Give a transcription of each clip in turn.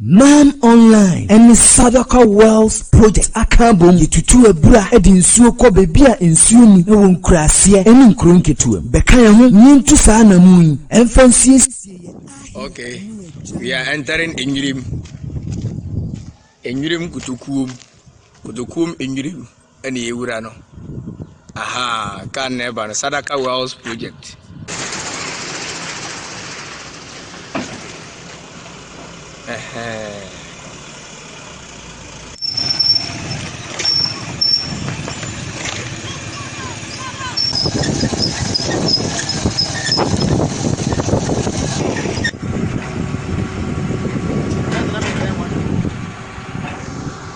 Man Online ne Sadaka Wells Project aka abom de tutu abura de nsuo kɔ baabi a nsuo nni wɔ nkuraaseɛ ne nkuro nketewa mu. Bɛka yɛn ho na yɛntu saa anammɔn yi mfa nsiesie yɛn ahe Okay, we are entering Enyirim. Enyirim Kotokuom. Kotokuom Enyirim. ɛne yɛ wura no ahaa kan na ɛba no sadaka wells project ɛhɛn.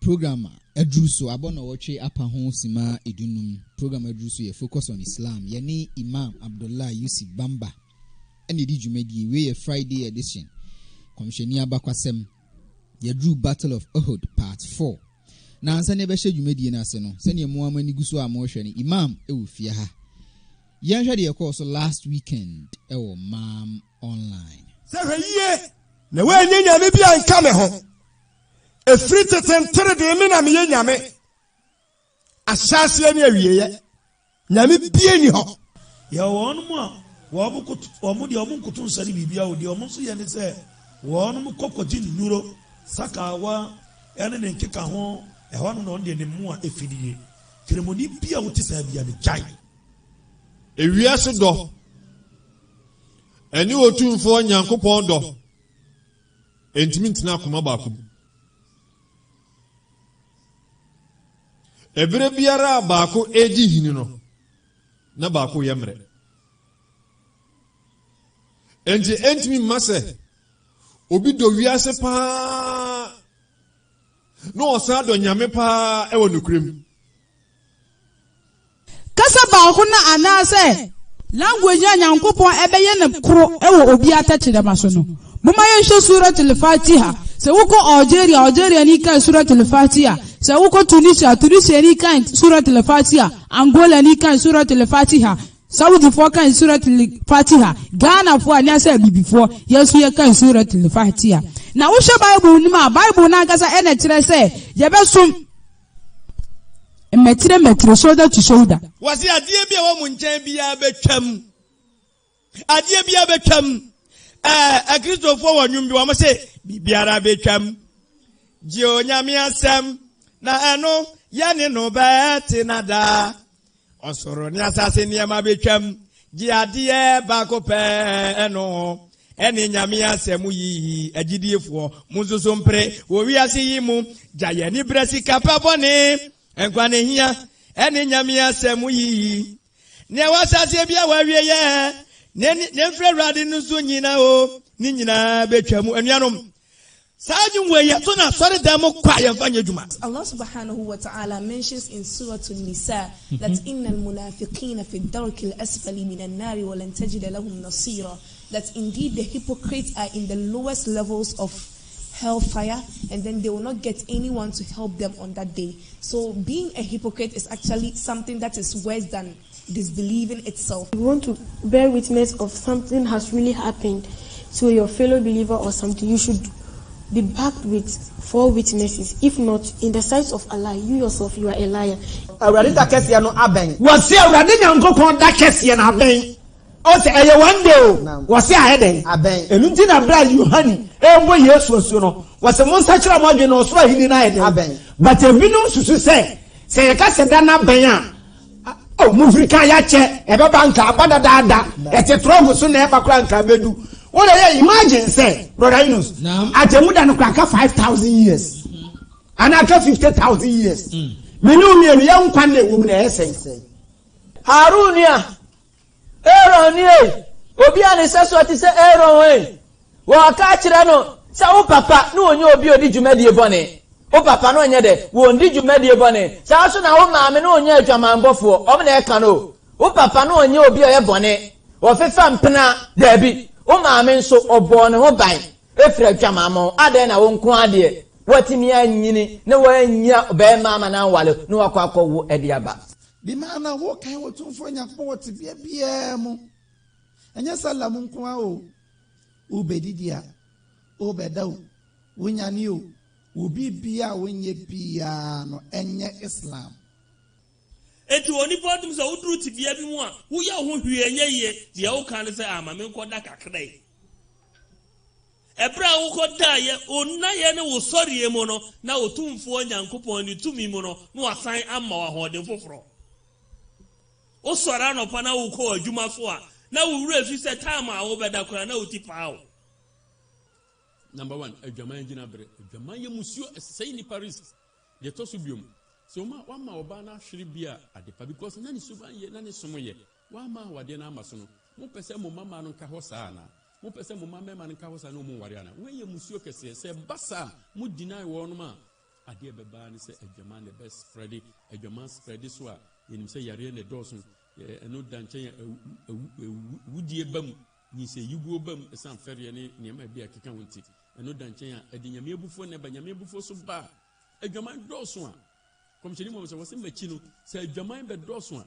Program a aduru so abɔ nnɔwɔtwe apa ho simma adunnum. Program a aduru so yɛ Focus on Islam. Yɛne Imam Abdullah Yusuf Bamba na edi dwumadie yi. Wei yɛ Friday edition. Kɔmhyɛni abakwasɛm. Yɛaduru Battle of Uhud Part Four. Nansa na yɛbɛhyɛ dwumadie no ase no, sɛdeɛ mo ara mo ani gu so a morehwɛ no, Imam wɔ fie ha. Yɛnhwɛ deɛ ɛkɔɔ so last weekend wɔ Maam Online. Sɛ hwɛ yie na woannya nyame bi anka me ho. Ɛfiri tete nteredee me na meyɛ Nyame. Ahyɛaseɛ ne awieɛ, Nyame bie nni hɔ. Yɛwɔ wɔnom a wɔn koto, wɔn deɛ wɔn nkoto nsɛne biribiara o, deɛ wɔn nso yɛ ne sɛ wɔnom kɔ kɔgye nnuro, sakaawa ne ne nkeka ho, ɛhɔ nom na wɔn deɛ ne mmoa ɛfi no yie. Kramoni bi a wote saa biara no, gyae. Ewiase dɔ ɛne Otumfoɔ Nyankopɔn dɔ. Ɛntumi ntena akoma baako mu. Ɛberɛ biara a baako redi hini no, na baako reyɛ mmerɛ. Ɛnti ɛntumi mma sɛ obi dɔ wiase paa na ɔsan dɔ Nyame paa ɛwɔ nokorɛ mu. Kasa baako na anaasɛ language a Nyankopɔn bɛyɛ no koro wɔ obiara tɛkyerɛma so no. Momma yɛnhwɛ Surat Al-Fatiha. Sɛ wokɔ Algeria a, Algeriani kan Surat Al-Fatiha. Sɛ wokɔ Tunisia a, Tunisiani kan Surat Al-Fatiha. Angolani kan Surat Al-Fatiha. Saudifoɔ kan Surat Al-Fatiha. Ghanafoɔ anaasɛ Abibifoɔ, yɛn nso yɛkan Surat Al-Fatiha. Na wohwɛ Bible no mu a, Bible no ankasa na ɛkyerɛ sɛ yɛbɛsom. Mmɛtire mmɛtire, shoulder to shoulder. Wɔsi adeɛ bi a wɔn nkyɛn biara bɛtwam. Adeɛ biara bɛtwam. Ɛɛ akristofoɔ wɔ nnwom bi wɔn se biribiara bɛtwam. Gye onyame asɛm na ɛno yɛne no bɛtena daa. Ɔsoro ne asase nneɛma betwam, gye adeɛ baako pɛ, ɛno ne Nyame asɛm yi, agyidiefoɔ, monsusu mpere wɔ wiase yi mu, gyae anibra sika pa bɔne, nkwa ne hia, ɛne Nyame asɛm yi, nea ɛwɔ asaseɛ biara wɔ awieɛ, nea ɛmfiri Awurade no so nyina o, ne nyinaa betwam, anuanom, Saa adwene wei yɛ so na asɔredan mu kɔ a yɛmfa nyɛ adwuma. Allah subhanahu wa ta'ala mentions in Surat An-Nisa that inna al-munafiqina fi ad-darki al-asfali min an-nari wa lan tajida lahum nasira that indeed the hypocrites are in the lowest levels of hellfire and then they will not get anyone to help them on that day. So being a hypocrite is actually something that is worse than disbelieving itself. You want to bear witness of something has really happened to your fellow believer or something, you should be backed with four witnesses, if not, in the sight of Allah, you yourself, you are a liar. Awurade da kɛseɛ no abɛn. Wɔse Awurade Nyankopɔn da kɛseɛ no abɛn. Ɔse ɛyɛ one day o. Wɔse ayɛ dɛn? Abɛn. Ɛno nti na berɛ a Yohane rebɔ Yesu asuo no, wɔse monsakyera mo adwene na ɔsoro ahennie no ayɛ dɛn? Abɛn. But ebinom susu sɛ, sɛ yɛka sɛ da no abɛn a, Ao mo hwiri ka yakyɛ ɛbɛba anka aba dadaada ɛte trɔmp so na ɛba koraa anka abɛdu wo na yɛ imagine sɛ brɔda yunus agyɛmu da no koraa ka five thousand years anaa ka fifty thousand years mene wo mmienu yɛ nkwa na ɛwɔ mu na ɛyɛ sɛn. Haroon nua, Aaron nie, obi a ne sɛsoɔ te sɛ Aaron he. Wɔɔka akyerɛ no sɛ, Wo papa ne ɔnyɛ obi a odi dwumadie bɔne. Wo papa ne ɔnyɛ dɛ? Wɔndi dwumadie bɔne. Saa ara nso na wo maame ne ɔnyɛ adwamammɔfoɔ. Wɔn na ɛka no o. Wo papa ne ɔnyɛ obi a ɔyɛ bɔne. Ɔfefa mpena? Daabi. Wo maame nso, ɔbɔɔ ne ho ban firi adwamammɔ ho. Adɛn na wo nko ara deɛ, woatumi anyini na woannya ɔbarima amma no anwale na woakɔ akɔwo de aba? Bi maa na wɔkan Otumfoɔ Nyankopɔn wɔ tebea biara mu. Ɛnyɛ sɛ lam nko ara o, wobɛdidi a, wobɛda o, wonyane o, wo biribiara a wonyɛ biara no, ɛnyɛ Islam. Enti onipa a ɔtumi sɛ woduru tebea bi mu a, woyɛ wo ho hwee a ɛnyɛ yie, deɛ woka ne sɛ, ah, ma menkɔda kakra yi. Ɛberɛ a wokɔdaeɛ onnaeɛ ne wo sɔreɛ mu no, na Otumfoɔ Nyankopɔn ne tumi mu no, na Wasan ama wo ahoɔden foforɔ. Wosɔre anɔpa na wokɔ w'adwuma so a, na wo werɛ fi sɛ time a wobɛda koraa na wo ti paa wo. Number one, adwaman gyina bere. Adwaman yɛ musuo, ɛsɛe nnipa risk. Deɛ ɛtɔ so biom, sɛ woma wama ɔbaa no ahwere bi a, adepa because na ne suban yɛ, na ne som yɛ. Wɔamma awadeɛ no amma so no, mopɛ sɛ mo mmammaa no nka hɔ saa anaa? Mopɛ sɛ mo mma mmarima no nka hɔ saa na wɔmmu nwareɛ anaa? Wei yɛ mmusuo kɛseɛ. Sɛ ɛba saa a, mo deny wɔnom a, adeɛ a ɛbɛba ara ne sɛ adwaman na ɛbɛ spreade. Adwaman spreade so a, yɛnim sɛ yareɛ na ɛdɔɔso. Ɛno da nkyɛn a, awudie ba mu, nyinsɛnyiguo ba mu ɛsiane fɛreɛ ne nneɛma a ɛbi a ɛkeka ho nti. Ɛno da nkyɛn a, ɛde Nyame abufuo na ɛba. Nyame abufuo so ba a, adwaman dɔɔso a, Nkɔmhyɛni Muhammad sɛ, wɔse m'akyi no, sɛ adwaman bɛdɔɔso a,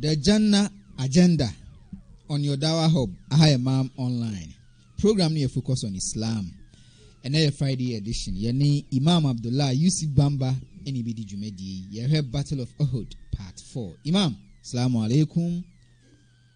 The Janna Agenda on your Dawah Hub, Aha Imam Online. Program no yɛ focus on Islam. Ɛnɛ yɛ Friday edition. Yɛne Imam Abdullah Yusuf Bamba ɛne bi di dwumadie yi. Yɛhwɛ Battle of Uhud Part 4. Imam, Assalamu alaikum.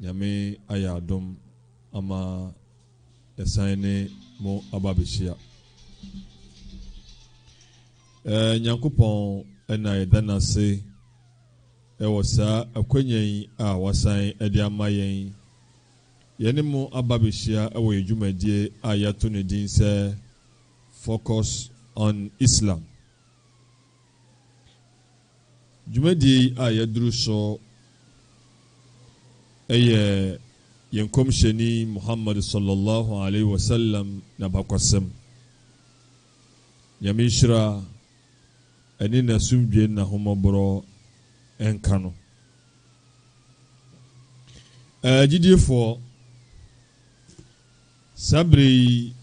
Nyame ayɛ adom ama yɛasan ne mo aba abɛhyia. Eh, Nyankopɔn na yɛda no ase wɔ saa akwanya yi a wasan de ama yɛn. Yɛne mo aba abɛhyia wɔ yɛn dwumadie a yɛato no din sɛ Focus on Islam. Dwumadie yi a yɛaduru so yɛ yɛn Nkɔmhyɛni Muhammad sɔllɔ Llahu alaihi wa sallam n'abakɔsɛm, Nyame nhyira ne n'asomdwie ne n'ahommɔborɔ nka no. Agyidiefoɔ, saa berɛ yi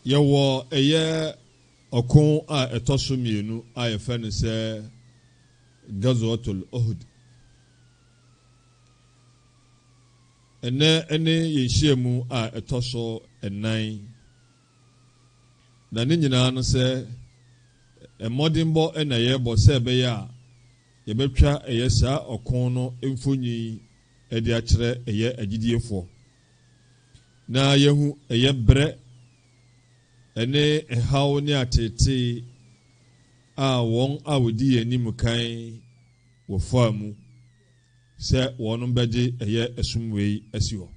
yɛwɔ ɛyɛ Ɔko a ɛtɔ so mmienu a yɛfrɛ no sɛ Ghazwatul Uhud nnɛ ne yɛn nhyiamu a ɛtɔ so nnan, na ne nyinaa no sɛ mmɔdenbɔ na yɛrebɔ sɛ ɛbɛyɛ a yɛbɛtwa ɛyɛ saa ɔko no mfonyin de akyerɛ ɛyɛ agyidiefoɔ na yɛahu ɛyɛ berɛ Ɛne haw ne ateetee a wɔn a wɔdi yɛn anim kan wɔ faa mu sɛ wɔnom bɛgye ɛyɛ ɛsom wei asi hɔ.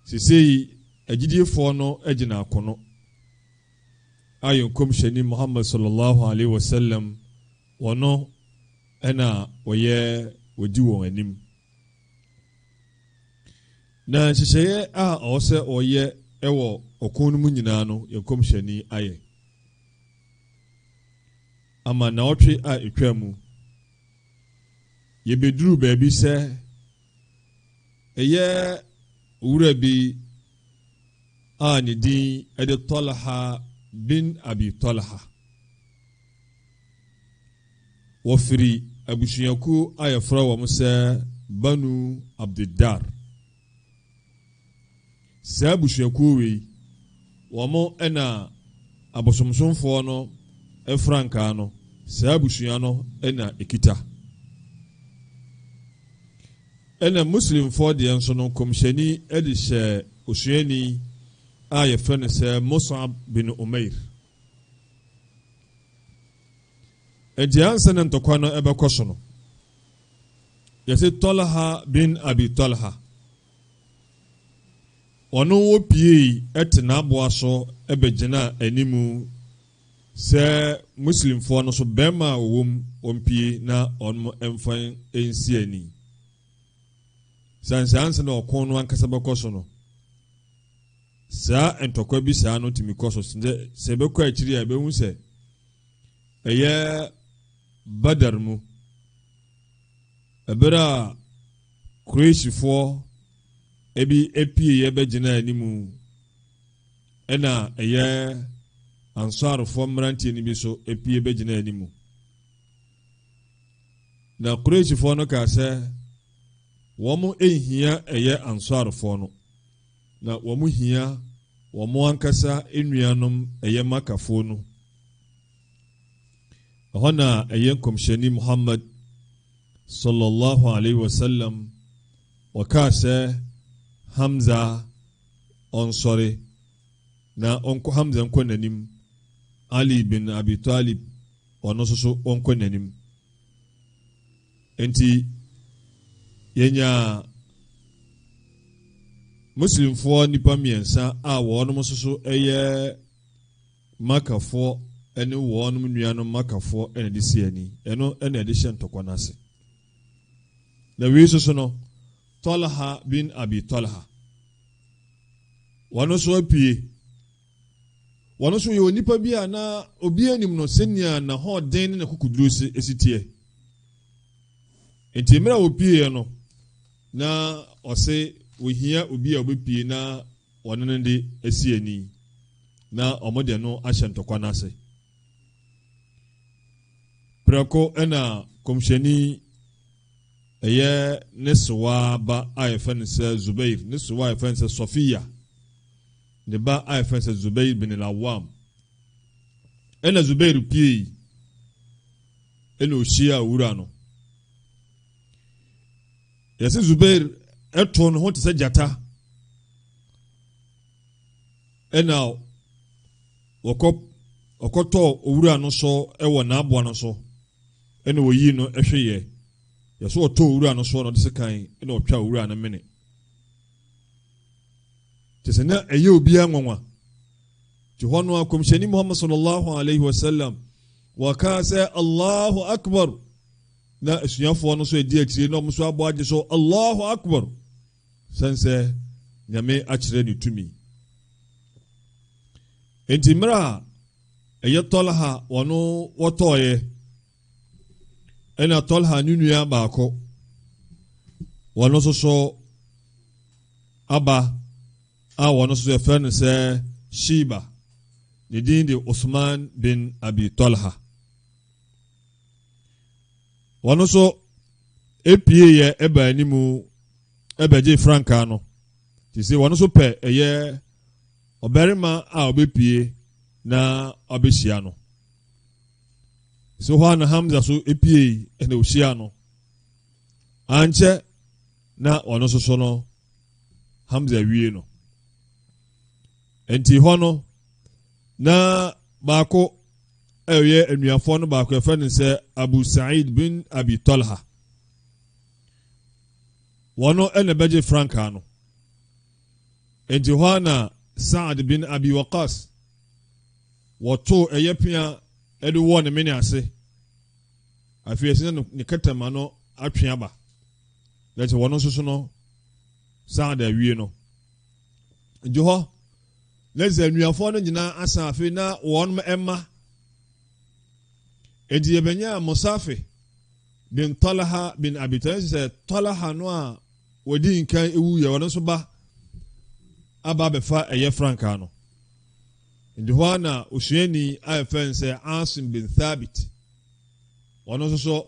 Sesei agyidiefɔɔ no agyina akono a yɛn Nkɔmhyɛni Muhammad Sallallahu Alaihi Wasallam wɔno ɛna wɔyɛ wɔdi wɔn anim. Na nhyehyɛeɛ a ɔwɔ sɛ ɔyɛ wɔ ɔko no mu nyinaa no, yɛn nkɔmhyɛni ayɛ ama nnawɔtwe a ɛtwaa mu. Yɛbɛduruu baabi sɛ ɛyɛ owura bi a ne din de Talha bin Abi Talha. Wɔfiri abusuakuo a wɔfrɛ wɔn sɛ Banu Abdiddar. Saa abusuakuo wei, wɔn na abosomsomfoɔ no frankaa no, saa abusua no na ɛkita. Ɛna Muslimfoɔ deɛ nso no, nkɔmhyɛni de hyɛɛ osuani a wɔfrɛ no sɛ Mus'ab bin Umair. Enti ansa na ntɔkwa no ɛbɛkɔ so no, yɛse Tɔlha bin Abi Tɔlha, ɔno wɔ piei ɛte n'aboa so ɛbɛgyinaa animu sɛ Muslimfoɔ no so bɛrima a ɔwɔ mu wɔn pie na wɔn ɛmfa ɛnsi ani. Sane sɛ ansa na ɔko no ankasa bɛkɔ so no, Saa ntɔkwa bi saa no tumi kɔ so sɛ sɛ ɛbɛkɔ akyiri a ɛbɛhu sɛ ɛyɛ Badar mu ɛberɛ a Quraishfoɔ bi apieeɛ bɛgyina anim ɛna ɛyɛ Ansarfoɔ mmeranteɛ no bi so apue bɛgyina anim na Quraishfoɔ no kaa sɛ wɔn nhia ɛyɛ Ansarfoɔ no na wɔhia wɔn ankasa nuanom ɛyɛ Makkafoɔ no. Ɛhɔ na ɛyɛ Nkɔmhyɛni Muhammad sallallahu alaihi wasallam ɔkaa sɛ Hamza ɔnsɔre na ɔnkɔ Hamza nkɔ n'anim Ali bin Abi Talib ɔno nso so ɔnkɔ n'anim. Enti yɛnyaa Muslimfoɔ nnipa mmiɛnsa a wɔnom nso so yɛ Makafoɔ ne wɔnom nuanom Makafoɔ na ɛde si ani. Ɛno na ɛde hyɛ ntɔkwa no ase. Na wei nso so no, Talha bin Abi Talha, wɔn nso apue. Ɔno nso, ɔyɛ onipa bi a na obiara nnim no sɛnea n'ahoɔden ne n'akokoduru si teɛ. Enti mmerɛ a ɔpueeɛ no, na ɔse ɔhia obi a ɔbɛpue na ɔne no de asi ani na wɔde ɛno ahyɛ ntɔkwa no ase. Prɛko na kɔmhyɛni ɛyɛ ne sewaa ba a yɛfɛ no sɛ Zubair, ne sewaa a yɛfɛ no sɛ Sɔfiya, Ne ba a yɛfrɛ no sɛ Zubair bin al-Awwam. Ɛna Zubair piei, ɛna ohyiaa owura no. Yɛse Zubair ɛtoo ne ho te sɛ gyata. Ɛna wɔkɔ ɔkɔtɔɔ owura no so ɛwɔ n'aboa no so ɛna wɔyii no ɛhweyɛ. Yɛso ɔtɔɔ owura no so na ɔde sekan ɛna ɔtwaa owura no mene. Kyerɛ sɛ na ɛyɛ obiara nwanwa. Nti hɔ no a kɔmhyɛni Muhammad sallallahu alaihi wasallam wɔkaa sɛ Allahu Akbar na asuafoɔ no nso adi akyire na wɔn nso abɔ agye so Allahu Akbar sɛn sɛ Nyame akyerɛ ne tumi. Nti mmerɛ a ɛyɛ Tɔlha wɔn wɔtɔɔeɛ Ɛna Tɔlha ne nua baako, wɔn nso so aba a wɔn nso yɛfrɛ no sɛ Shiba. Ne din de Usman bin Abi Tɔlha. Wɔn nso epie yɛ ɛba anim ɛbɛgye frankaa no. Te sɛ wɔn nso pɛ ɛyɛ ɔbarima a ɔbɛpie na ɔbɛhyia no. So hɔ ara na Hamza nso puei na ohyiaa no. Ankyɛ na ɔno nso so no Hamza wie no. Nti hɔ no na baako ɛyɛ anuafoɔ no baako ɛfɛ no sɛ Abu Sa'id bin Abi Talha. Wɔn ɛna bɛgye frankaa no. Nti hɔ ara na Sa'ad bin Abi Waqas Wɔtoo ɛyɛ pea de wɔɔ ne mene ase. Afei ɛsɛ sɛ ne kɛtɛma no atwe aba, na ɛsɛ sɛ wɔno nso so no saa da awie no. Nti hɔ na ɛsɛ sɛ anuafoɔ no nyinaa asan afei na wɔn mma. Nti yɛbɛnyaa Musafi bin Talha bin Abi Talib sɛ Talha no a wɔdi nkan ewu yɛ wɔn nso ba aba abɛfa ɛyɛ frankaa no. Enti hɔ ara na osuani a yɛfrɛ no sɛ Asim bin Thabit, ɔno nso so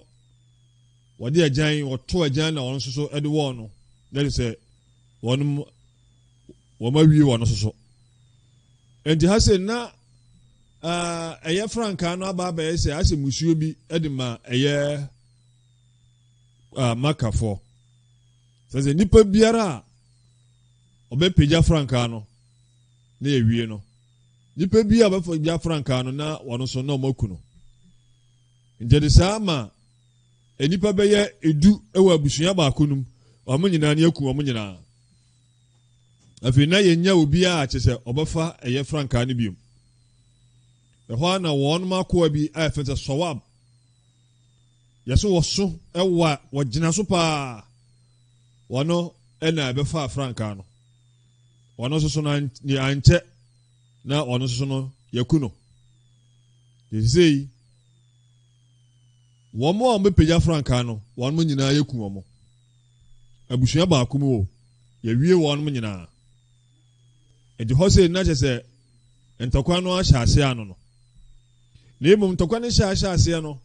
wɔde agyan, wɔto agyan na ɔno nso so de wɔɔ no, na kyerɛ sɛ wɔn wɔn awie wɔn nso so. Enti ha sɛ na ɛyɛ frankaa no aba abɛyɛ sɛ asɛ musuo bi de ma ɛyɛ makafoɔ sɛ sɛ nipa biara a ɔbɛpagya frankaa no na ewie no, nnipa bi a wɔbɛfa gya frankaa no na wɔn nso na wɔaku no. Nti ɛde saa ma nnipa bɛyɛ edu wɔ abusua baako no mu, wɔn nyinaa ne aku wɔn nyinaa. Afei na yɛnya obiara kyɛ sɛ ɔbɛfa ɛyɛ frankaa no biom. Ɛhɔ ara na wɔn akoa bi a yɛfrɛ sɛ Sawab, yɛso wɔ so wɔ a wɔgyina so paa, wɔno na ɛbɛfa frankaa no. ɔno nso so no deɛ ankyɛ na ɔno nso so no yɛku no ɛsei wɔn a wɔbɛpagya frankaa no wɔn mo nyinaa yɛku wɔn abusua baako mu o yɛwie wɔn mo nyinaa ɛdi hɔ sɛ nna kyɛ sɛ ntɔkwa no ahyɛ aseɛ ano no na mmom ntɔkwa no hyɛ ahyɛ aseɛ no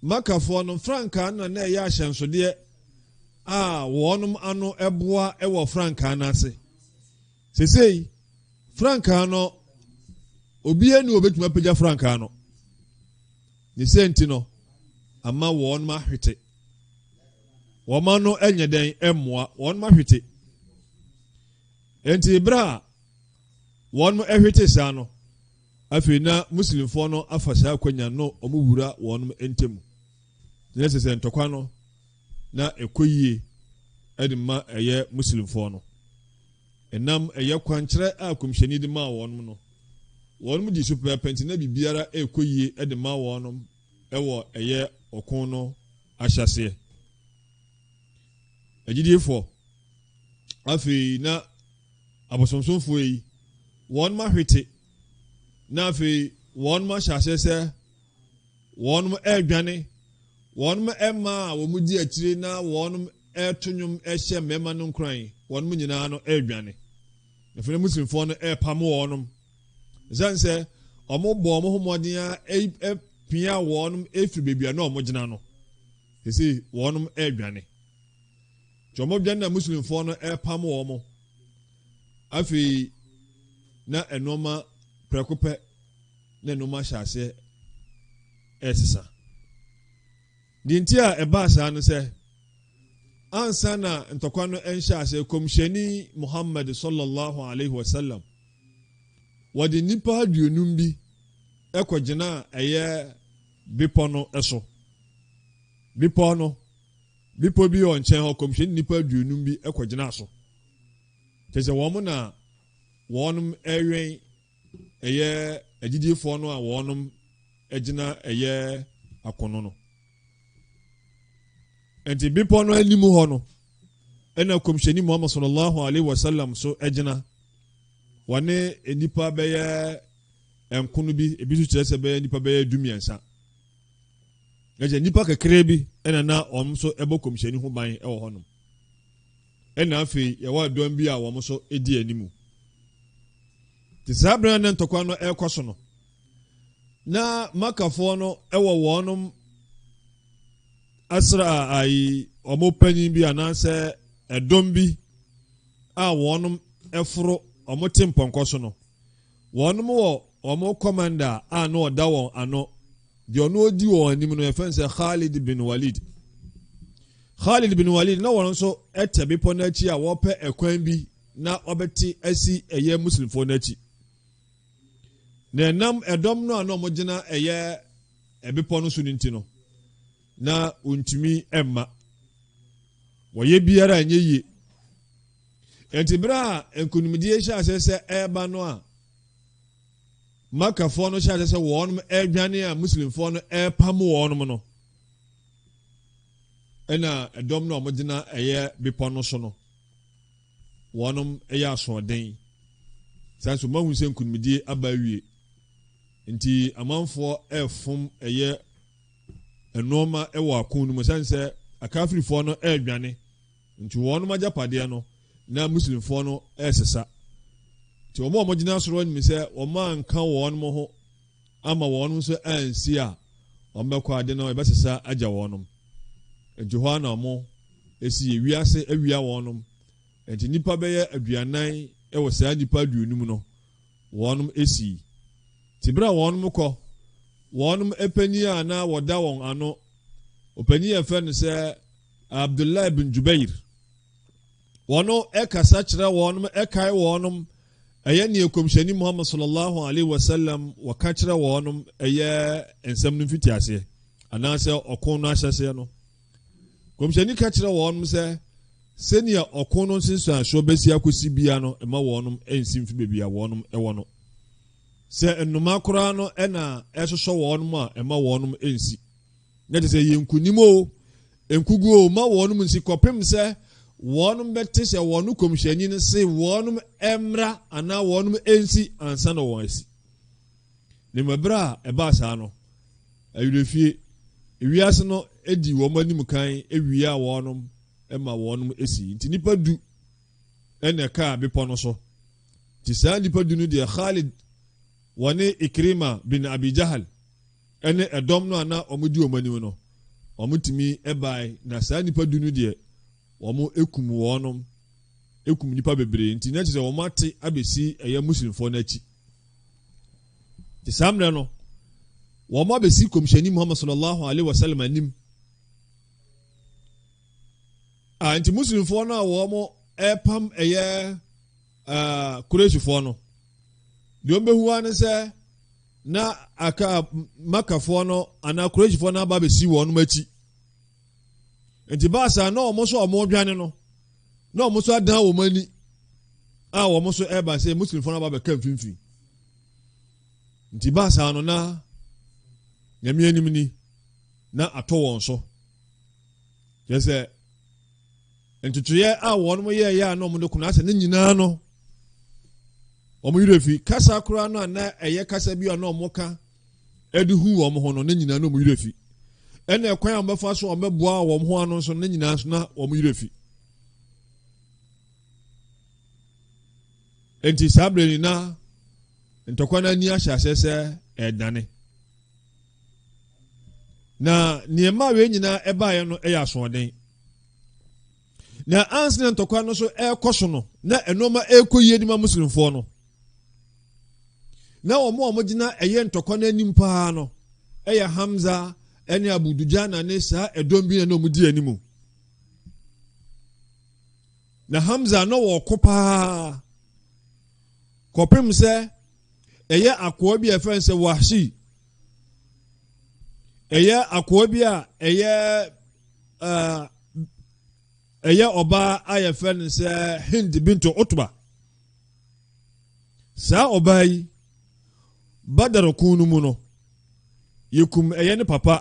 makafoɔ no frankaa no na na ɛyɛ ahyɛnsodeɛ a wɔnom ano boa wɔ frankaa no ase sesei frankaa no obiara ni obetumi apagya frankaa no ne sɛ nti no ama wɔn ma ahwete wɔn ano nyɛ dɛn mmoa wɔn ma ahwete nti bere a wɔn hwete saa no Afei na Muslimfoɔ no afa saa akwanya no na wɔn wura wɔn ntamu. Kyerɛ sɛ, sɛ ntɔkwa no, na ɛkɔ yie de ma ɛyɛ Muslimfoɔ no. Ɛnam ɛyɛ kwankyerɛ a Kɔmhyɛni de maa wɔn no, wɔn dii so pɛpɛɛpɛ nti na biribiara rekɔ yie de ma wɔn wɔ ɛyɛ ɔko no ahyɛaseɛ. Agyidiefɔɔ, afei na. abosomsomfoɔ yi, wɔnom ahwete, na afei wɔnom ahyɛ aseɛ sɛ wɔnom ɛredwane, wɔnom mmaa a wɔn di akyire na wɔnom ɛreto nnwom ɛhyɛ mmarima no nkuran, wɔnom nyinaa no ɛredwane. Afei Muslimfoɔ no ɛrepamo wɔnom. Ɛsiane sɛ wɔn bɔ wɔn ho mmɔden a ɛpia wɔnom ɛfiri baabi a na wɔn gyina no, sisi wɔnom ɛredwane. Twɔmodwen na Muslimfoɔ no repam wɔn. Afei na nnoɔma prɛko pɛ na nnoɔma hyɛ aseɛ resesa. Deɛ nti a ɛbaa saa no sɛ, ansa na ntɔkwa no nhyɛ aseɛ, Kɔmhyɛni Muhammad sallallahu alaihi wasallam, wɔde nnipa aduonum bi kɔgyinaa ɛyɛ bepɔ no so. Bepɔ no Bepɔ bi wɔ nkyɛn hɔ, kɔmhyɛni nnipa aduonum bi kɔgyinaa so. Kyerɛ sɛ wɔn na wɔnom ɛwɛn ɛyɛ agyidifoɔ no a wɔnom agyina ɛyɛ akono no. Ɛnti bepɔ no anim hɔ no, ɛna kɔmhyɛni Muhammad sallallahu alaihi wasallam so agyina. Wɔne nnipa bɛyɛ nkono bi, ebi so kyerɛ sɛ bɛyɛ nnipa bɛyɛ dumiɛnsa. na kyɛ nnipa kakraa bi na na wɔn nso bɔ kɔmhyɛni ho ban wɔ hɔnom. Ɛna afei yɛwɔ adɔm bi a wɔn nso di anim. Te saa bere a na ntɔkwa no rekɔ so no, na makafoɔ no wɔ wɔnom asra ayi wɔn panyin bi anaasɛ ɛdɔm bi a wɔnom foro wɔn te mpɔnkɔ so no. Wɔnom wɔ wɔn kɔmanda a na ɔda wɔn ano, deɛ ɔno ɔdi wɔn anim no, yɛfrɛ no sɛ Khalid bin Walid. Khalid bin Walid, na wɔn nso ɛtɛ bepɔ no akyi a wɔpɛ ɛkwan bi na wɔbɛte asi ɛyɛ Muslimfoɔ no akyi. Na ɛnam ɛdɔm no a na wɔgyina ɛyɛ ɛbepɔ no so no nti no, na wɔntumi mma. Wɔyɛ biara nyɛ yie. Enti bere a nkonimdie hyɛ aseɛ sɛ ɛreba no a Makkafoɔ no hyɛ aseɛ sɛ wɔn ɛredwane a Muslimfoɔ no ɛrepam wɔn no ɛna ɛdɔm no a wɔgyina ɛyɛ bepɔ no so no wɔn ɛyɛ asoɔden saa nso mahu sɛ nkonimdie aba awie nti amanfoɔ ɛrefom ɛyɛ nnoɔma ɛwɔ ako no mu sane sɛ akafirifoɔ no ɛredwane Nti wɔnom agyapadeɛ no na Muslimfoɔ no resesa. Nti wɔn a wɔgyina soro anim sɛ wɔn anka wɔnom ho ama wɔnom nso ansi a, wɔbɛkɔ ade no yɛbɛsesa agya wɔnom. Nti hɔ ara na wɔn si yɛ wiase awia wɔnom. Nti nnipa bɛyɛ aduanan wɔ saa nnipa aduonum no wɔnom si. Nti berɛ a wɔnom kɔ, wɔnom panin a na wɔda wɔn ano, ɔpanin a yɛfrɛ no sɛ Abdullah bin Jubair, wɔno ɛkasa kyerɛ wɔnom ɛkae wɔnom ɛyɛ neɛ Kɔmhyɛni Muhammad sallallahu alaihi wasallam wɔka kyerɛ wɔnom ɛyɛ nsɛm no mfitiaseɛ anaasɛ ɔko no ahyɛseɛ no. Kɔmhyɛni ka kyerɛ wɔnom sɛ sɛnea ɔko no nsensuansoɔ bɛsi akɔsi bia no ɛma wɔnom ɛnsi mfi baabi a wɔnom ɛwɔ no. Sɛ nnoma koraa no ɛna ɛsosɔ wɔnom a ɛma wɔnom ɛnsi. Na ɛte sɛ ɛyɛ nkonim o, nkogu o, ma wɔnom nsi kɔpem sɛ wɔnom bɛte sɛ wɔn kɔmhyɛni no se wɔnom mmra anaa wɔnom nsi ansa na wɔn asi. Na mmom ɛberɛ a ɛbaa saa no, ayerefie, ewiase no di wɔn anim kan ewie a wɔnom ma wɔnom asi. Nti nipa du ɛna ɛkaa bepɔ no so. Nti saa nipa du no deɛ Khalid wɔne Ikrima bin Abi Jahal ne ɛdɔm no a na wɔdi wɔn anim no, wɔtumi bae, na saa nnipa du no deɛ, wɔkum wɔnom, kum nnipa bebree, nti na kyerɛ sɛ wɔate abɛsi ɛyɛ Muslimfoɔ no akyi. Nti saa mmerɛ no, wɔn abɛsi kɔmhyɛni Muhammad sallallahu alaihi wasallam anim. A nti Muslimfoɔ no a wɔn ɛpam ɛyɛ ɛɛ Kuresifoɔ no, deɛ wɔn bɛhu ara ne sɛ na aka Makafoɔ no anaa Kuresifoɔ no aba bɛsi wɔn akyi nti baasa na wɔn nso wɔn dwane no na wɔn nso adan wɔn ani a wɔn nso ɛreba sɛ Muslimfoɔ no aba bɛka mfimfini nti baasa no na nyame anim ni na atɔ wɔn so kyerɛ sɛ ntotoeɛ a wɔn yɛɛyɛ a na wɔde kono asɛ ne nyinaa no wɔn werɛ fi kasa koraa no a na ɛyɛ kasa bi a na wɔn ka ɛde hu wɔn ho no ne nyinaa na wɔn werɛ fi ɛna ɛkwan a wɔbɛfa so a wɔbɛboa wɔn ho ano nso ne nyinaa nso na wɔn werɛ fi nti saa bere nyinaa ntɔkwa no ani ahyɛ aseɛ sɛ ɛredane na nea ɛma wei nyinaa ɛbaeɛ no yɛ asoɔden na ansena ntɔkwa no so ɛrekɔ so no na nneɛma ɛrekɔ yie de ma muslimfoɔ no na wɔn a wɔgyina ɛyɛ ntɔkwa no anim paa no ɛyɛ hamza ɛne abudujana ne saa ɛdɔm bi na wɔdi anim na hamza na wɔko paa kɔpem sɛ ɛyɛ akoa bi a ɛfɛ sɛ wahyi ɛyɛ akoa bi a ɛyɛ ɛyɛ ɔbaa a yɛfɛ no sɛ hind binto otoba saa ɔbaa yi badarokun no mu no yɛkum ɛyɛ ne papa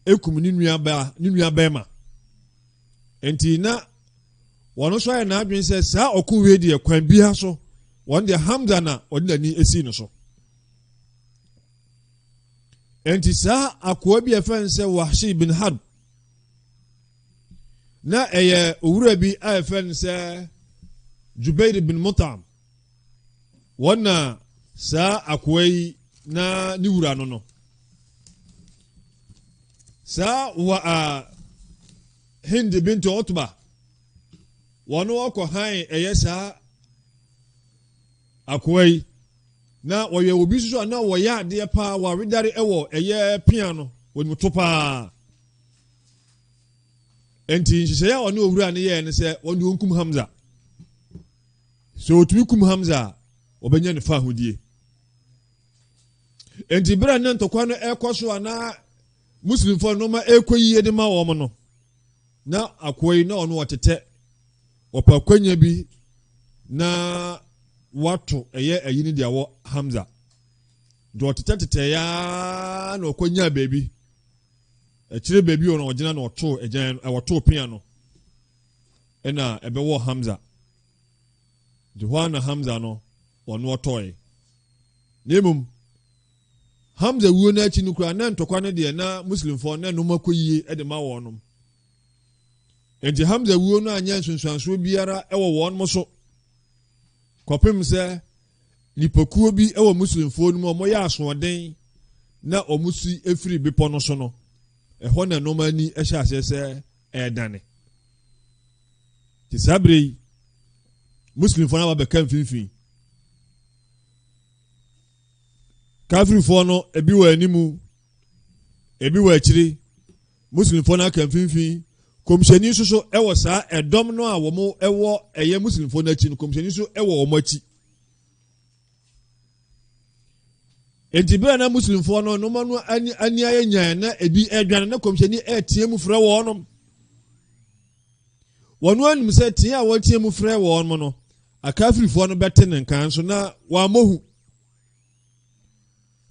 ɛkum ne nua baa ne nua bɛrima nti na wɔn nso ayɛ n'adwene sɛ saa ɔko wei deɛ kwan biara so wɔn deɛ hamza na wɔde n'ani asi no so nti saa akoa bi a ɛfɛn sɛ wahye bin harb na ɛyɛ owura bi a ɛfɛn sɛ jubair bin mutam wɔn na saa akoa yi na ne wura no no saa wa a Hindi Bintu Utba, wɔn wɔkɔ hann ɛyɛ saa akoa yi na wɔyɛ obi nso a na wɔyɛ adeɛ paa wɔawedare ɛwɔ ɛyɛ pia no wɔnim to paa nti nhyehyɛeɛ a ɔne owura no yɛɛ no sɛ wɔn de wɔnkum hamza sɛ wɔtumi kum hamza a wɔbɛnya ne fa ahodie nti berɛ ne ntɔkwa no ɛkɔ so a na Muslimfo a nnoɔma rekɔ yiye de ma wɔn no, na akoa yi na ɔno ɔtetɛ, ɔpɛ akwanya bi na wato ɛyɛ ayi no de awɔ Hamza. Nti ɔtetɛtetɛ yaa na ɔkɔ nyaa baabi. Akyire baabi ɔno ɔgyina na ɔto agyan ɔto pea no ɛna ɛbɛwɔ Hamza. Nti hɔ na Hamza no ɔno ɔtɔe. Na mmom Hamza wuo no akyi no koraa na ntɔkwa no deɛ na Muslimfoɔ no na nnoɔma kɔ yie de ma wɔnom. Enti Hamza wuo no anyɛ nsunsuansoɔ biara wɔ wɔnom so kɔpem sɛ nipakuo bi wɔ Muslimfoɔ no mu wɔyɛ asoɔden na wɔn si firi bepɔ no so no ɛhɔ na nnoɔma ani hyɛ aseɛ sɛ ɛredane nti saa berɛ yi muslimfoɔ no aba bɛka mfimfini Kafirfoɔ no, ebi wɔ anim, ebi wɔ akyiri. Muslimfoɔ no aka mfimfini. Kɔmhyɛni nso so wɔ saa ɛdɔm no a wɔn wɔ ɛyɛ Muslimfoɔ no akyi no, kɔmhyɛni nso wɔ wɔn akyi. Enti bere na Muslimfoɔ no noma no ani ayɛ nyan na ebi adwane na kɔmhyɛni ɛreteɛ mu frɛ wɔn. Wɔn ara nim sɛ teɛ a wɔteɛ mu frɛ wɔn no, akafirifoɔ no bɛte ne nka nso na wɔammɔ hu.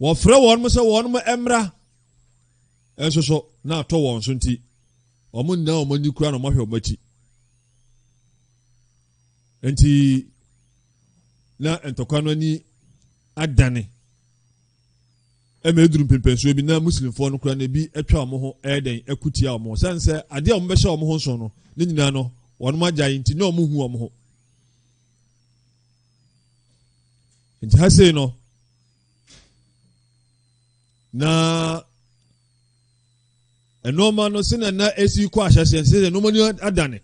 Wɔfrɛ wɔn sɛ wɔn mmra nso so na atɔ wɔn so nti, wɔn nna wɔn ani kura na wɔahwɛ wɔn akyi. Nti na ntɔkwa no ani adane. ɛma eduru mpɛmpɛnsoɔ bi na Muslimfoɔ no koraa no ebi atwa wɔn ho ɛyɛ dɛn ɛko tia wɔn ho sɛn sɛ adeɛ a wɔn bɛhyɛ wɔn ho nson no ne nyinaa no wɔn agyae nti na wɔn hu wɔn ho nti ha sei no na nneɛma no sɛ na na esi kɔ ahyɛseɛ sɛ sɛ nneɛma no adane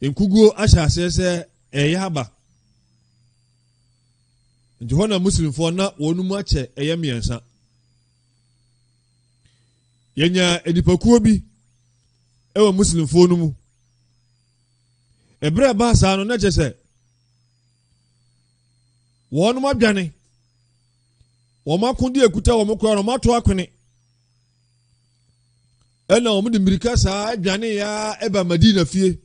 nkuguo ahyɛ aseɛ sɛ ɛyɛ aba Nti hɔ na Muslimfoɔ na wɔn mu akyɛ ɛyɛ mmiɛnsa. Yɛnyaa nnipakuo bi wɔ Muslimfoɔ no mu. Ɛberɛ a ɛbaa saa no na kyɛ sɛ wɔn adwane wɔn akode akuta wɔn kora wɔn ato akwene ɛna wɔn de mmirika saa adwane ya ɛba Madina fie.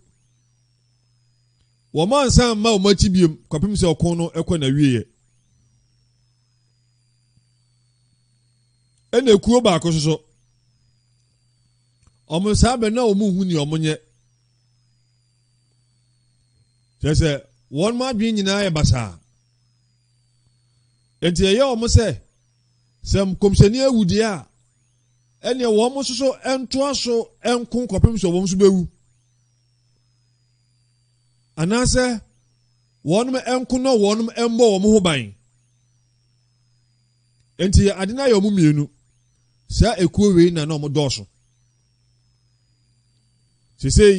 Wɔansan mma wɔn akyi bio kɔpem sɛ ɔko no kɔ n'awieɛ. Ɛna ekuo baako soso. Wɔn saa bɛ na wɔn nhu nea wɔn nyɛ. Kyerɛ sɛ wɔn adwene nyinaa yɛ basaa. Nti ɛyɛ wɔn sɛ sɛ nkɔmhyɛni awu deɛ a ɛneɛ wɔn nso so ntoa so nko kɔpem sɛ wɔn nso bɛwu. anaasɛ wɔnom nko na wɔnom mmɔ wɔn ho ban nti yɛ ade no ayɛ wɔn mmienu saa ekuo wei na na wɔn dɔɔso sesei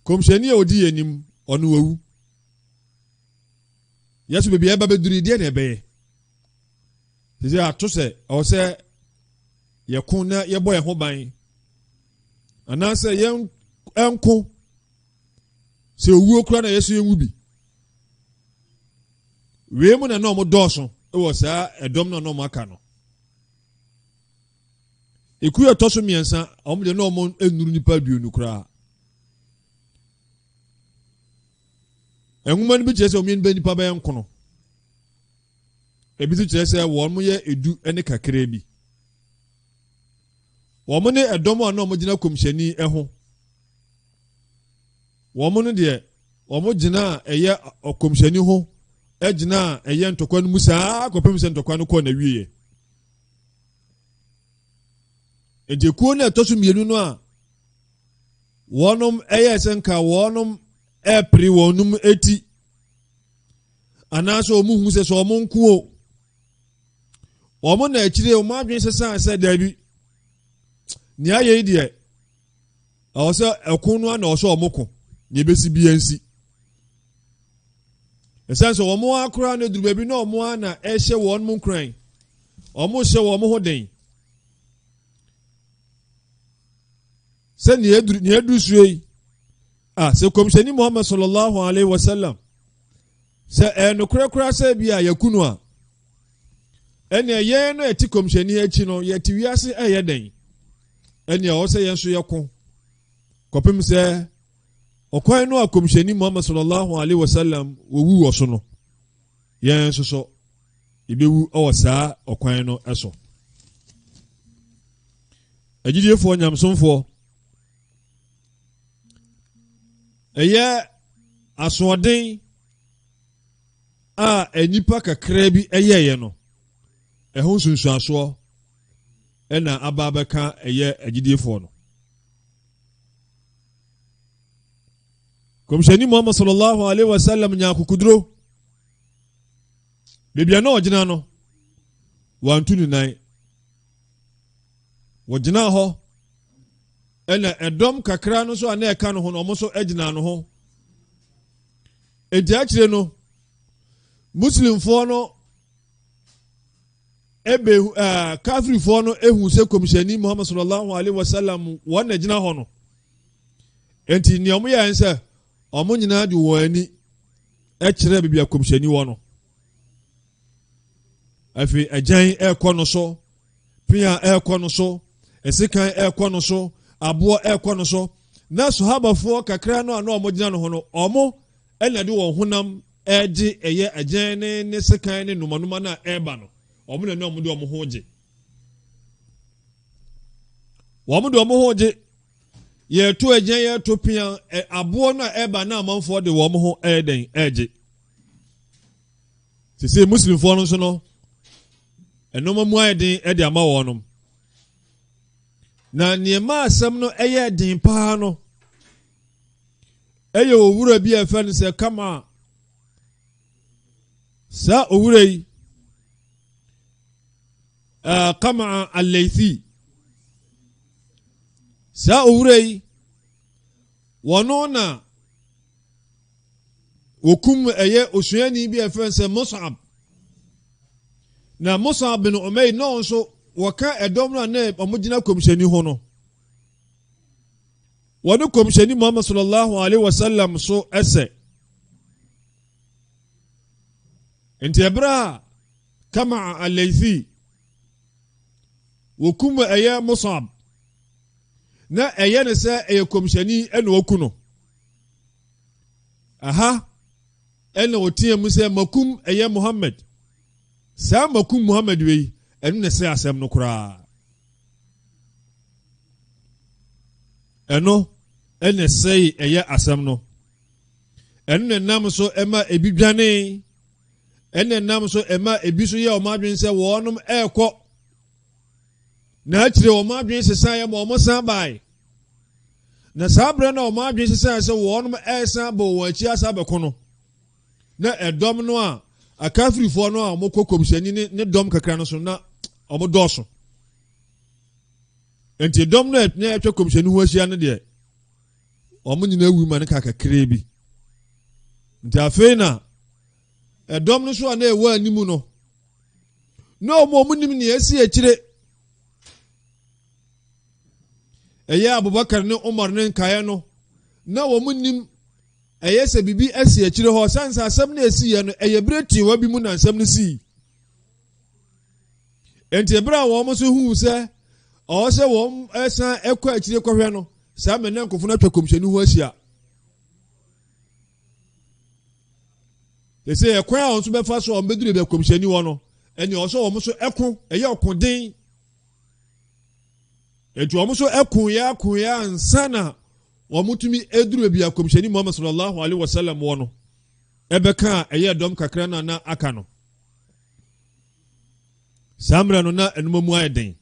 kɔmhyɛni a ɔdi yɛn anim ɔno wawu yɛso baabi a ɛba bɛduru deɛ na ɛbɛyɛ Sese ato sɛ ɛwɔ sɛ yɛko na yɛbɔ yɛn ho ban anaasɛ yɛn nko sɛ owuo kura na yɛ so yɛn wu bi wei mu na na wɔn dɔɔso wɔ saa ɛdɔm na wɔn aka no ekuo ɛtɔ so mmiɛnsa wɔn deɛ na wɔn nnuru nipa aduonu koraa nwoma no bi kyerɛ sɛ wɔn yɛn nipa bɛyɛ nkono. Ebi nso kyerɛ sɛ wɔyɛ edu ne kakraa bi. Wɔn ne ɛdɔm a na wɔgyina kɔmhyɛni ho. Wɔn no deɛ wɔn gyina a ɛyɛ ɔkɔmhyɛni ho gyina a ɛyɛ ntɔkwa no mu saa kɔpem sɛ ntɔkwa no kɔɔ n'awieɛ. Nti kuo no ɛtɔ so mmienu no a wɔnom ɛyɛ sɛ nka wɔnom ɛpere wɔnom eti anaasɛ wɔn hu sɛ sɛ wɔn nko o wɔn na akyire wɔn adwene sesan sɛ daabi nea ayɛ yi deɛ ɛwɔ sɛ ɛko no ana ɔsɛ wɔn ko nea ebesi bi nsi ɛsɛn sɛ wɔn akora no aduru baabi na wɔn ana ɛhyɛ wɔn mu nkuran wɔn hyɛ wɔn ho den sɛ nea aduru nea aduru sue yi. a sɛ kɔmhyɛni muhammad sallallahu alaihi wasallam sɛ ɛyɛ nokorɛ koraa sɛ bi a yɛku no a ɛnea yɛn no ɛte kɔmhyɛni akyi no yɛte wiase ɛyɛ dɛn ɛnea ɔwɔ sɛ yɛn nso yɛko kɔpem sɛ ɔkwan no a kɔmhyɛni muhammad sallallahu alaihi wasallam wɔwu wɔ so no yɛn nso so yɛbɛwu wɔ saa ɔkwan no so agyidiefoɔ nyamsomfoɔ Ɛyɛ asoɔden a nnipa kakraa bi yɛeɛ no, ɛho nsunsuasoɔ ɛna aba abɛka ɛyɛ agyidiefoɔ no. Kɔmhyɛni Muhammad sallallahu alaihi wasallam nya akokoduro. Baabi a na ɔgyina no, wantu ne nan. wɔgyinaa hɔ ɛna ɛdɔm kakra no nso a na ɛka no ho no wɔn nso gyinaa no ho edi akyire no muslimfoɔ no ebe ɛɛ kafirifoɔ no ehu sɛ kɔmhyɛni muhammad sallallahu alaihi wa sallam wɔn na gyina hɔ no nti nea wɔn yɛ nsɛ wɔn nyinaa de wɔn ani ɛkyerɛ baabi a kɔmhyɛni wɔ no. afei agyan ɛrekɔ no so pia ɛrekɔ no so ɛsekan ɛrekɔ no so aboɔ ɛrekɔ no so na sahabafoɔ kakra no a na wɔn gyina no ho no wɔn ɛna de wɔn honam ɛregye ɛyɛ agyan ne ne sekan ne numanuma no a ɛreba no wɔn na ne wɔn de wɔn ho gye wɔn de wɔn ho gye yɛreto agyan yɛreto pia aboɔ no a ɛreba na amanfoɔ de wɔn ho ɛredɛn ɛregye. te sɛ muslimfoɔ no nso no nneɛma mu ayɛ den de ama wɔn nom na nneɛma asɛm no yɛ den paa no ɛyɛ owura bi a ɛfɛ no sɛ kama saa owura yi uh, kama aleithi saa owura yi wɔn na wɔkum ɛyɛ osuani bi a ɛfrɛ no sɛ Mus'ab na Mus'ab bin Umayr na nso wɔka ɛdɔm no a na wɔgyina kɔmhyɛni ho no wɔne kɔmhyɛni Muhammad sallallahu alaihi wasallam so ɛsɛ nti ɛberɛ a kama alaythi wɔkum ɛyɛ Mus'ab na ɛyɛ ne sɛ ɛyɛ kɔmhyɛni ɛna ɔku no Aha ɛna ɔteɛ mu sɛ, Makum ɛyɛ Muhammad. Saa makum Muhammad wei, ɛno na ɛsɛ asɛm no koraa. Ɛno ɛna ɛsɛe ɛyɛ asɛm no. Ɛno na ɛnam so ɛma ebi dwane. Ɛna ɛnam so ɛma ebi so yɛ wɔn adwene sɛ wɔnom ɛrekɔ na akyire wɔn adwene sesaeɛ ma wɔn san bae Na saa berɛ na wɔn adwene sesaeɛ sɛ wɔn ɛresan abɔ wɔn akyi asa abɛko no, na ɛdɔm no a akafirifoɔ no a wɔkɔ kɔmhyɛni ne ne dɔm kakra no so na wɔn dɔɔso nti dɔm no a na ɛtwa kɔmhyɛni ho ahyia no deɛ wɔn nyinaa awu ma no ka kakraa bi nti afei na ɛdɔm no so a na ɛwɔ anim no na wɔn a wɔn nim nea ɛsi akyire Ɛyɛ Abubakar ne Umar ne nkaeɛ no, na wɔn nim ɛyɛ sɛ biribi asi akyire hɔ, sane sɛ asɛm no ɛsiiɛ no ɛyɛ berɛ tiwa bi mu na nsɛm no sii. Enti ɛberɛ a wɔn nso huu sɛ ɔwɔ sɛ wɔn ɛsan ɛkɔ akyire kɔhwɛ no, saa mɛ na nkɔfo no atwa kɔmhyɛni ho ahyia. ɛsɛ ɛkwan a wɔn nso bɛfa so a wɔn bɛduru bɛ kɔmhyɛni hɔ no ɛne ɔsɛ wɔn nso ɛko ɛyɛ ɔko den Enti wɔn nso kuuɛ kuuɛ ansa na wɔn tumi eduru ebi akɔmhyɛni Muhammad sallallahu alaihi wasallam wɔ no ɛbɛka a ɛyɛ dɔm kakra na na aka no. Saa mmerɛ no na ɛnuma mu ayɛ den.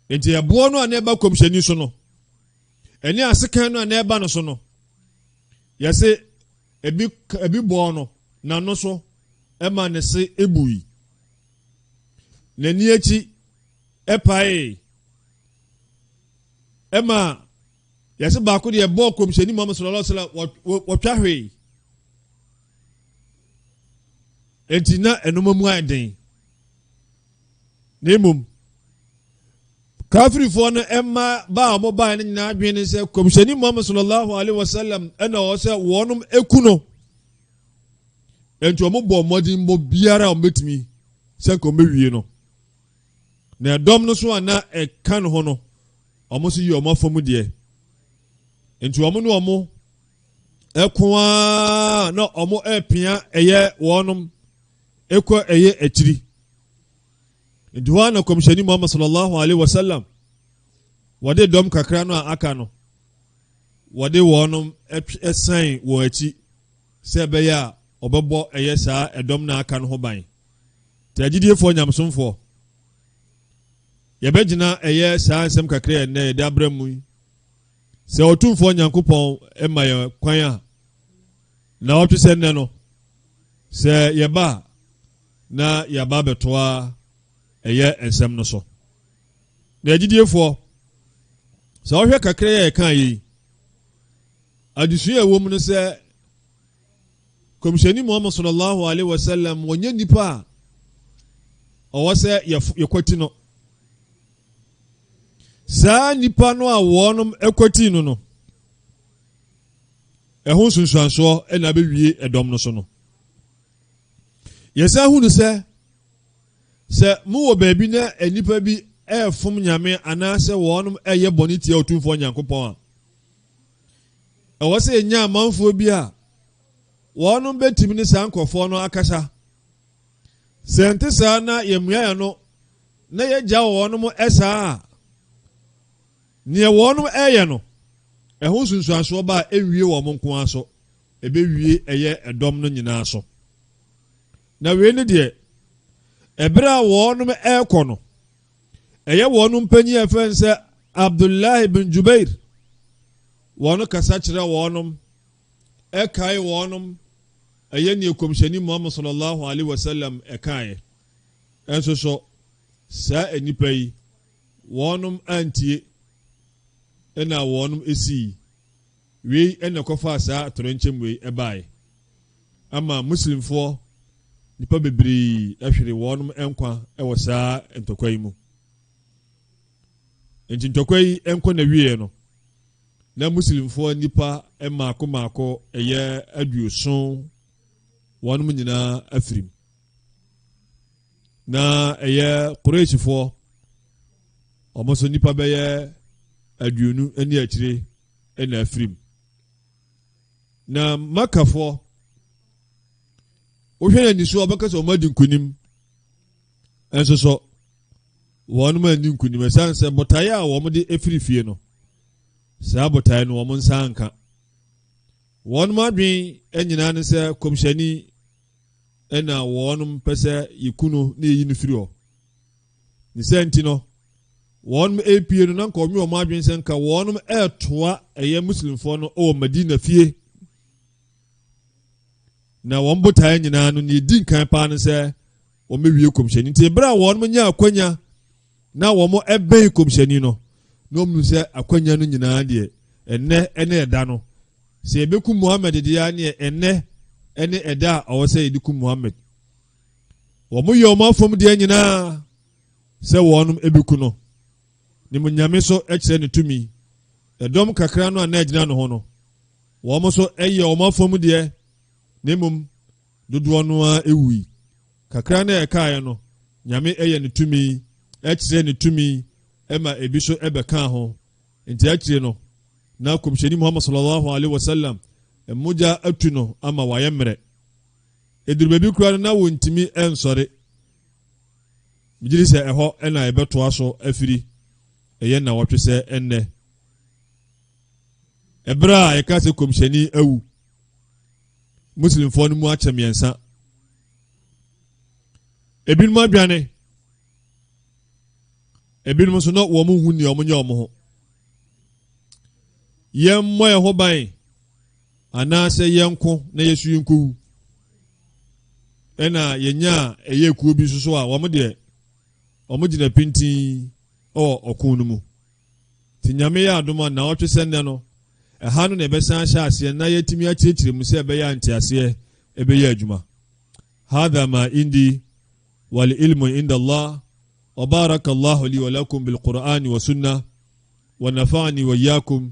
Enti ɛboɔ no a na ɛba kɔmhyɛni so no ɛne asekan no a na ɛba no so no yɛse ebi ebi bɔɔ no n'ano so ɛma ne se ebui. n'ani akyi paee ɛma yɛse baako deɛ ɛbɔɔ kɔmhyɛni muhammad sallallahu alaihi wasallam wɔtwa hwee enti na ɛnoma mu ayɛ den na mmom kafirifoɔ no ɛma baa a wɔbaeɛ no nyinaa adwene ne sɛ kɔmhyɛni muhammad sallallahu alaihi wasallam ɛna ɔwɔ sɛ wɔnom ɛku no Enti wɔn bɔɔ mmɔden bɔ biara a wɔbɛtumi sɛ nka wɔbɛwie no. Na ɛdɔm no so a na ɛka ne ho no, wɔn nso yɛ wɔn afa mu deɛ. Enti wɔn ne wɔn ɛko ara na wɔn ɛpea ɛyɛ wɔnom ɛkɔ ɛyɛ akyiri. Nti hɔ a na kɔmhyɛni Muhammad sallallahu alaihi wasallam wɔde dɔm kakra no a aka no wɔde wɔnom ɛsan wɔn akyi sɛ ɛbɛyɛ a ɔbɛbɔ ɛyɛ saa ɛdɔm no a aka no ho ban. Nti agyidiefoɔ nyamesomfoɔ, yɛbɛgyina ɛyɛ saa nsɛm kakra yɛ nnɛ yɛde abra mu yi. Sɛ Ɔtumfoɔ Nyankopɔn ma yɛ kwan a, na ɔtwe sɛ nnɛ no, sɛ yɛba a, na yɛaba abɛtoa ɛyɛ nsɛm no so. Na agyidiefoɔ, sɛ ɔhwɛ kakra yɛ ɛka yɛ yi, Adesua a ɛwɔ mu ne sɛ, Nkɔmhyɛni Muhammad sallallahu alaihi wasallam ɔnyɛ nipa a ɔwɔ sɛ yɛkwati no. Saa nipa no a wɔnom kwati no no, ɛho nsunsuansoɔ na abɛwie ɛdɔm no so no. Yɛsan hunu sɛ, sɛ mowɔ baabi na nnipa bi ɛrefom nyame anaasɛ wɔnom ɛyɛ bɔne tia Otumfoɔ Nyankopɔn a, ɛwɔ sɛ yɛnya amanfoɔ bi a wɔnom bɛtumi ne saa nkurɔfoɔ no akasa sɛ nte saa na yɛmmua yɛ no na yɛgya wɔ wɔnom ɛsaa a neɛ wɔnom ɛyɛ no ɛho nsunsuansoɔ ba a ɛnwie wɔ mo nko ara so ɛbɛwie ɛyɛ ɛdɔm no nyinaa so na wei ne deɛ ɛberɛ a wɔnom ɛrekɔ no Ɛyɛ wɔn mpanyin a ɛfrɛ no sɛ Abdullahi bin Jubair. Wɔn kasa kyerɛ wɔn, ɛkae wɔn, ɛyɛ nea kɔmhyɛni Muhammad sallallahu alaihi wasallam ɛkaeɛ. Ɛnso so, saa nnipa yi, wɔn antie ɛna wɔn esii. Wei ɛna ɛkɔfaa saa atoyerɛnkyɛm wei ɛbaeɛ. ama Muslimfoɔ nnipa bebree ahwere wɔn nkwa wɔ saa ntɔkwa yi mu. Enti ntɔkwa yi nkɔ n'awieɛ no, na Muslimfoɔ nnipa mmaako mmaako ɛyɛ aduoson wɔn nyinaa afirim. Na ɛyɛ Qurayshfoɔ wɔn nso nnipa bɛyɛ aduonu ne akyire na afirim. na makafoɔ wohwɛ no ani so ɔbɛka sɛ ɔma di nkonim ɛnso so wɔn ma ni nkonim ɛsan sɛ botaeɛ a wɔn de efiri fie no saa botaeɛ no wɔn nsa nka wɔn mu adwen nyinaa ne sɛ kɔmhyɛni ɛna wɔn pɛ sɛ yɛkunu ne yɛyi no firi hɔ Ne saa nti no, wɔnom repue no na nka wɔnwe wɔn adwene sɛ nka wɔnom retoa ɛyɛ Muslimfoɔ no wɔ Madina fie. Na wɔn botaeɛ nyinaa no, nea ɛdi nkan paa no sɛ wɔbɛwie kɔmhyɛni. Nti berɛ a wɔnom nya akwanya na wɔn bɛn kɔmhyɛni no, na wɔn sɛ akwanya no nyinaa deɛ ɛnɛ ɛne ɛda no. Sɛ yɛbɛku Muhammad deɛ neɛ ɛnɛ ɛne ɛda a ɔwɔ sɛ yɛde ku Muhammad. wɔn yɛ wɔn afɔm deɛ nyinaa sɛ wɔn ebeku no ne mu nyame so kyerɛ ne tumi ɛdɔm kakra no a na ɛgyina no ho no wɔn nso yɛ wɔn afɔm deɛ ne mu dodoɔ no ara ewui kakra na ɛkaeɛ no nyame yɛ ne tumi ɛkyerɛ ne tumi ɛma ebi so ɛbɛka ho nti akyire no na kɔmhyɛni muhammad sallallahu alaihi wasallam mogya atu no ama wayɛ mmerɛ Ɛduru baabi koraa no na wɔntumi nsɔre. Megye di sɛ ɛhɔ na yɛbɛtoa so afiri ɛyɛ nnawɔtwe sɛ ɛnnɛ. Ɛberɛ a yɛka sɛ kɔmhyɛni awu, Muslimfoɔ no mu akyɛ mmiɛnsa. Ebinom adwane, ebinom nso na wɔn ho nni wɔn nyɛ wɔn ho. Yɛmmɔ yɛn ho ban. Anaasɛ yɛn nko na yɛsu yi nkowu. Ɛna yɛnyaa ɛyɛ kuo bi soso a wɔn deɛ wɔn gyina pintin wɔ ɔko no mu. Ti nyame yɛ adom a naawɔtwe sɛ nnɛ no ɛha no na ɛbɛsan ahyɛ aseɛ na yɛatumi akyerɛkyerɛ mu sɛ ɛbɛyɛ a nteaseɛ ɛbɛyɛ adwuma. Hadha ma indi wal ilmu inda Allah wa baraka Allahu li wa lakum bil Qur'ani wa sunnah wa nafa'ani wa iyyakum